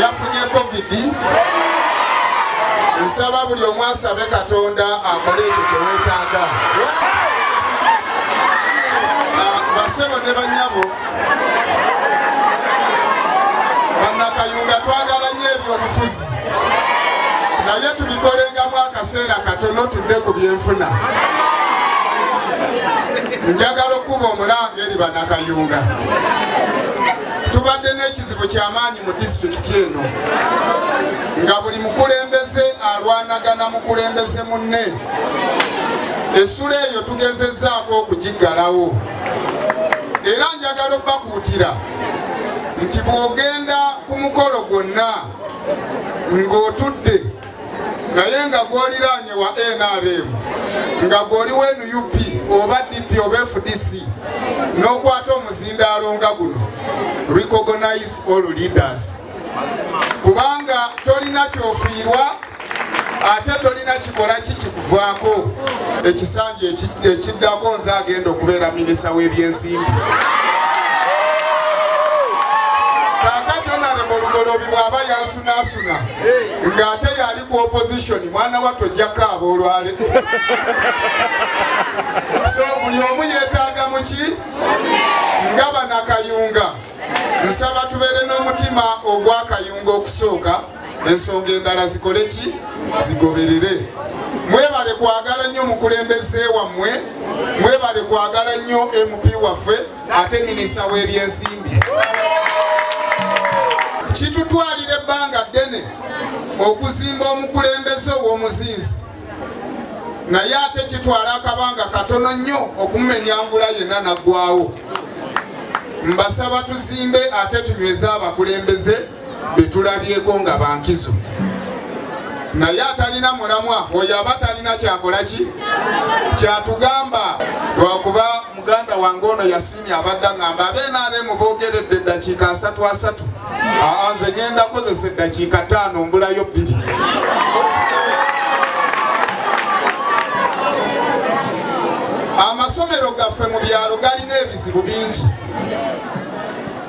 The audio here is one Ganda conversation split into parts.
yafunye covid nsaba buli omu asabe katonda akole ekyo kyewetaaga ah, basebo ne banyabo bannakayunga twagala nyo ebyobufuzi naye tubikolengamu akaseera katono tudde ku byenfuna njagala okukuba omulanga eri bannakayunga tubadde n'ekizibu ky'amaanyi mu disitulikiti eno nga buli mukulembeze alwanagana mukulembeze munne essula eyo tugezezzaako okugiggalawo era njagala okubakuutira nti bw'ogenda ku mukolo gwonna ng'otudde naye nga gwoliraanye wa nrm nga gwoli wa nup oba dp oba fdc n'okwata omuzindaalo nga guno recognize all leaders kubanga tolina kyofiirwa ate tolina kikola ki kikuvaako ekisanja ekiddako nze agenda okubeera minisa w'ebyensimbi kakati onarema olugoloobi bw'aba yansunaasuna nga ate yali ku opposition mwana wattu ojja kaaba olwale so buli omu yeetaaga muki nga banakayunga nsaba tubeere n'omutima ogwakayunga okusooka ensonga endala zikole ki zigoberere mwebale kwagala nnyo omukulembeze wammwe mwebale kwagala nnyo mp waffe ate minisita w'ebyensimbi kitutwalira ebbanga ddene okuzimba omukulembeze ow'omuzinzi naye ate kitwala akabanga katono nnyo okumumenyangula yenna naggwawo mbasaba tuzimbe ate tunyweze abakulembeze betulabyeko nga bankizo naye atalina mulamwa oyo aba talina kyakola ki kyatugamba lwakuba muganda wange ono yasiimye abadda ngamba abenaremu bogeredde eddakiika asatu asatu aa nze ngenda kozesa eddakiika taano mbulayo bbiri amasomero gaffe mu byalo galina ebizibu bingi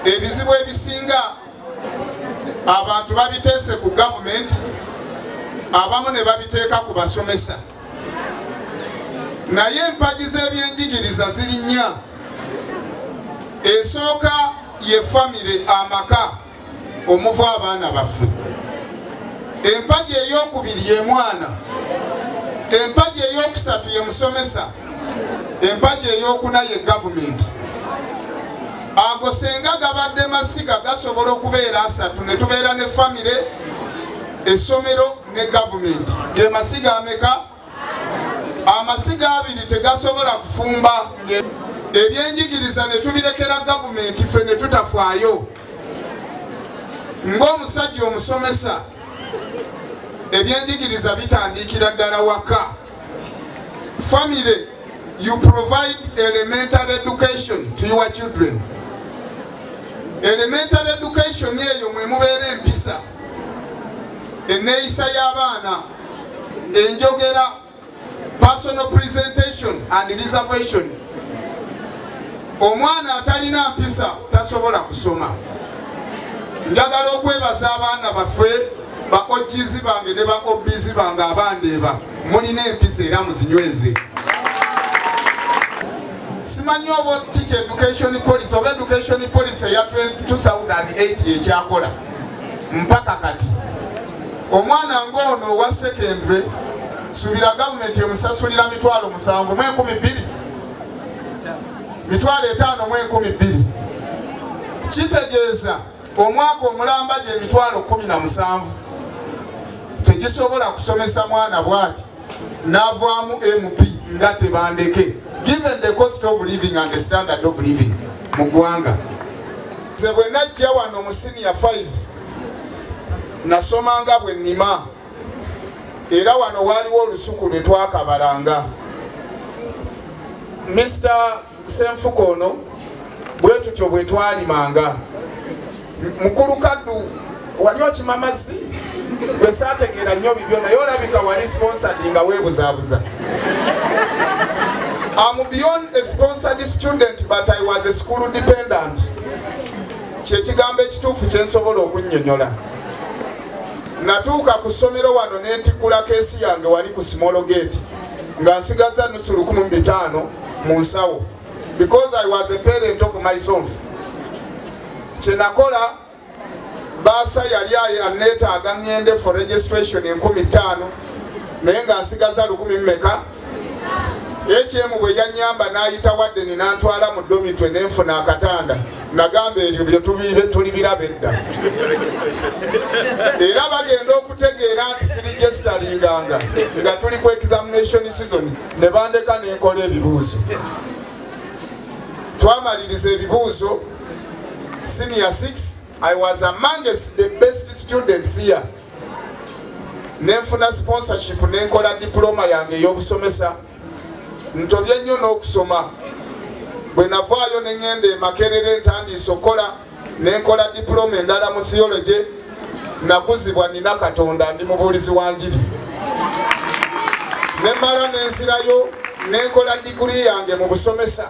ebizibu ebisinga abantu babiteese ku gavumenti abamu ne babiteeka ku basomesa naye empagi z'ebyenjigiriza ziri nnya esooka ye famire amaka omuva abaana baffe empagi ey'okubiri ye mwana empagi ey'okusatu ye musomesa empagi eyokuna ye gavumenti ago senga gabadde masiga gasobola okubeera asatu ne tubeera ne famire essomero ne gavumenti ge masiga ameka amasiga abiri tegasobola kufumba ebyenjigiriza ne tubirekera gavumenti ffe ne tutafwayo ng'omusajja omusomesa ebyenjigiriza bitandiikira ddala waka Family, you provide elementary education to your children. Elementary education eyo mwe mubeera empisa, enneeyisa y'abaana, enjogera, personal presentation and reservation. Omwana atalina mpisa tasobola kusoma. Njagala okwebaza abaana baffe. ba OGs bange ne ba OBs bange abandeeba mulina empisa era muzinyweze. Simanyi oba kiki education policy oba education policy eya 2008 ekyakola mpaka kati omwana ng'ono owa secondary subira gavumenti emusasulira mitwalo musanvu mu enkumi bbiri mitwalo etaano mu enkumi bbiri kitegeeza omwaka omulamba gye emitwalo kumi na musanvu tegisobola kusomesa mwana bwati navaamu mp nga tebandeke given the cost of living and the standard of living mu ggwanga nze bwe najja wano mu siniya 5 nasomanga bwe nnima era wano waaliwo olusuku lwe twakabalanga Mr. Ssenfuka ono bwe tutyo bwe twalimanga. Mukulu Kaddu wali okima mazzi? Gwe saategeera nnyo bibyo naye olabika wali sponsored nga weebuzaabuza. Am beyond a sponsored student but I was a school dependent. Kyekigambo ekituufu kye nsobola okunnyonnyola. Natuuka ku ssomero wano ne ntikkula keesi yange wali ku Small Gate nga nsigazza nnusu lukumi mu bitaano. mu nsawo because I was a parent of myself kyenakola baasa yali aneetaaga ngende for registration enkumi ttaano naye nga nsigaza lukumi mmeka ekyemu bwe yanyamba n'ayita waddeni n'antwala mu domitwe nenfuna akatanda nagamba ebyo byetubibe tuli biraba edda era bagenda okutegeera nti sirigesitaringanga nga tuli ku examination season ne bandeka ne nkola ebibuuzo twamaliriza ebibuuzo senior 6 i was amongst the best students here nenfuna sponsorship nenkola diploma yange ey'obusomesa ntobye nnyo n'okusoma bwe navaayo ne ŋŋenda emakerere ntandiise okukola nenkola diploma endala mu theology nakuzibwa nina katonda ndi mubuulizi wa njiri nemala nensirayo nenkola diguri yange mu busomesa